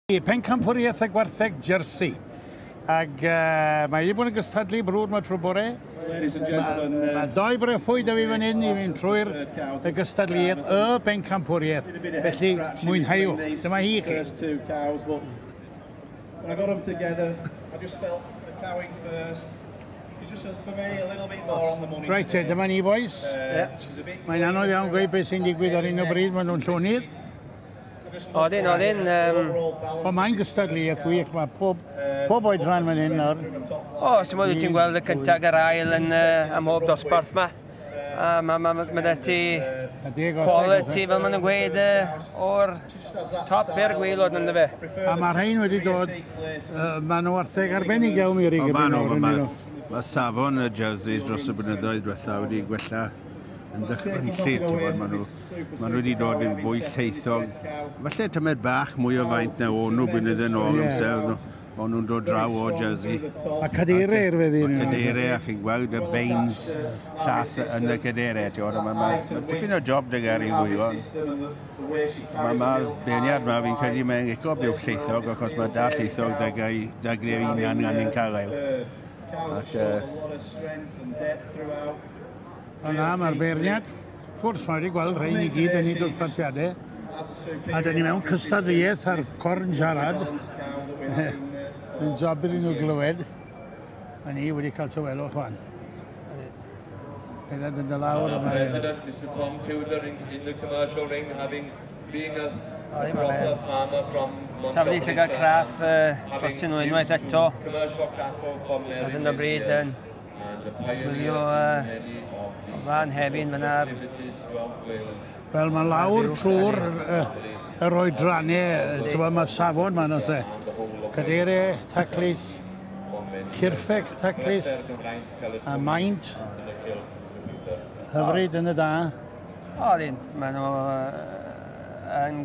I pencampwriaeth y gwartheg Jersey. Ac uh, mae i bod yn gystadlu brwd mae trwy bore. Mae doi brefwy da fi fan hyn i fynd trwy'r y gystadleuaeth, y bencampwriaeth. Felly, mwynhauwch. Dyma hi chi. When I got them together, I just felt the cowing first. It's just for me a little bit more on the money Right, today. dyma ni boys. Uh, Mae'n anodd iawn gweud beth sy'n digwydd ar un o bryd, maen nhw'n llonydd. Odyn, odyn. Um... O, mae'n gystadleuaeth wych, mae pob, pob oed rhan fan hyn nawr. O, os ti'n modd wyt ti'n gweld y cyntaf a'r ail yn uh, am hob dosbarth ma. A mae ma, ma, ma ti quality, fel maen nhw'n gweud, o'r top i'r gwylod yn fe. A mae rhain wedi dod, uh, maen nhw artheg arbennig iawn i'r rygbi nawr yn nhw. Mae safon y jerseys dros y blynyddoedd diwetha wedi gwella yn dychfynllyd, ti'n bod, maen nhw, maen nhw wedi dod yn fwy lleithog. Falle tymed bach mwy o faint na o'n nhw blynyddoedd yn ôl amser, Maen nhw'n dod draw o Jersey. A cadeirau i'r feddi. A cadeirau, a chi'n gweld y veins llath yn y cadeirau. Mae ma, ma, tipyn o job dy gael ei fwyfo. Mae ma beirniad yma, fi'n credu mae'n licio byw lleithog, achos mae da lleithog dy gael dy greu unan gan ein cael. Ac, uh, Yna, mae'r beirniad. Wrth gwrs, mae wedi gweld rhain i gyd yn ei dwrpatiadau, a dyn ni mewn cystadleuaeth ar corn siarad. Mae'n job iddyn nhw glywed, a ni wedi cael tywelwch fan. Dyna dyn dy lawr yma. President, Mr Tom Tudor in, in the commercial ring, having being a, a proper farmer from Taflu llygad craff uh, dros unwaith eto. Ar hyn o bryd yn Gwylio y fan hefyd, mae yna... Wel, mae lawr trwy'r yr oedrannau, ti'n gwybod, mae safon ma'n oes e. Cadere, taclis, cirffec, taclis, a maint hyfryd yn y da. O, dyn, maen nhw yn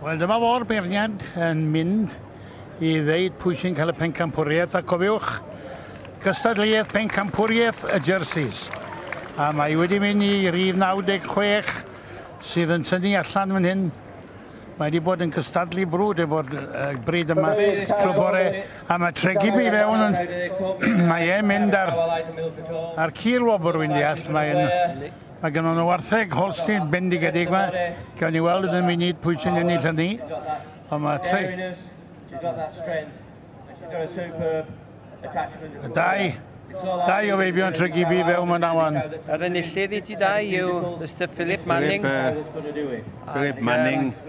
Wel, dyma fo'r beirniad yn mynd i ddeud pwy sy'n cael y pencampwriaeth, a cofiwch, gystadleuaeth pencampwriaeth y jerseys. A mae wedi mynd i rif 96 sydd yn tynnu allan fan hyn. Mae wedi bod yn cystadlu brwd efo'r bryd yma trwy bore, a mae tregu mi fewn yn... mae e'n mynd ar, ar cil wobr, wy'n deall. Mae'n Mae gennym nhw wartheg Holstein bendigedig yma. Gawn ni weld yn y munud pwy sy'n ennill hynny. Ond mae tri. Y dau. Dau o feibion trygibi fewn mewn awan. Yr enillydd i ti dau yw Mr Philip Manning. Philip, uh, Philip Manning.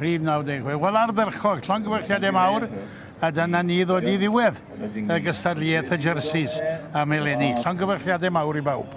Rhif 96. Wel ardderchog, llongyfarchiadau mawr, a dyna ni ddod i ddiwedd y gystadliaeth y jerseys am eleni. Llongyfarchiadau mawr i bawb.